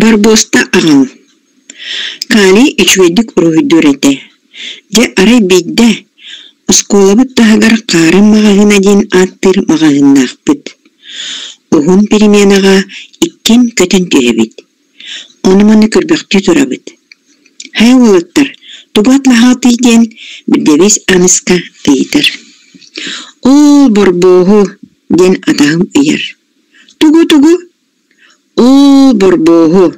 Барбуоста аҕам Калий үчүгэйдик уруһуйдуур этэ. Дьэ арай биирдэ оскуолабыт таһыгар Хаарым маҕаһыына диэн ааттыыр маҕаһыыннаахпыт. Уһун переменаҕа иккин көтөн түһэбит. Ону-маны көрбөхтүү турабыт «Һэ, уолаттар, тугу атлаһаатый?» диэн Birdewiz Аныска ыйытар. «Ол борбооһу» диэн атаһым ыйар. «Тугу-тугу?» «Ол борбооһу».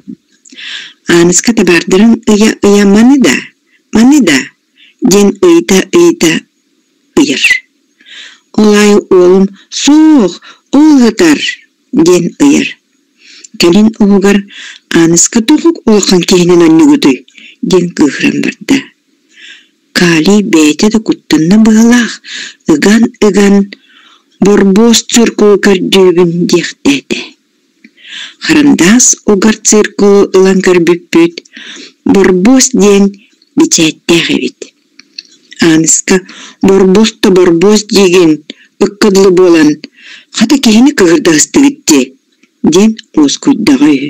Аныска табаардарын ыйа-ыйа «Маны да, маны да» диэн ыйыта-ыйыта ыйар. Ол аайы уолум «Суох, ол ытар» диэн ыйар. Кэлин уһугар Ааныска тоҕук улахан киһинэн онньугутуй диэн кыыһыран барда. Калий бэйэтэ да куттанна быһалаах ыган-ыган борбуос циркулу көрдүүбүн диэхтээтэ. Харандаас угар циркулу ылан көрбүппүт борбуос диэн бичээттээх эбит. Ааныска Борбуос да Борбуос диигин, ыкка дылы буолан, хата киһини кыгырдастыгыт дии, диэн уоскуйдаҕа үһү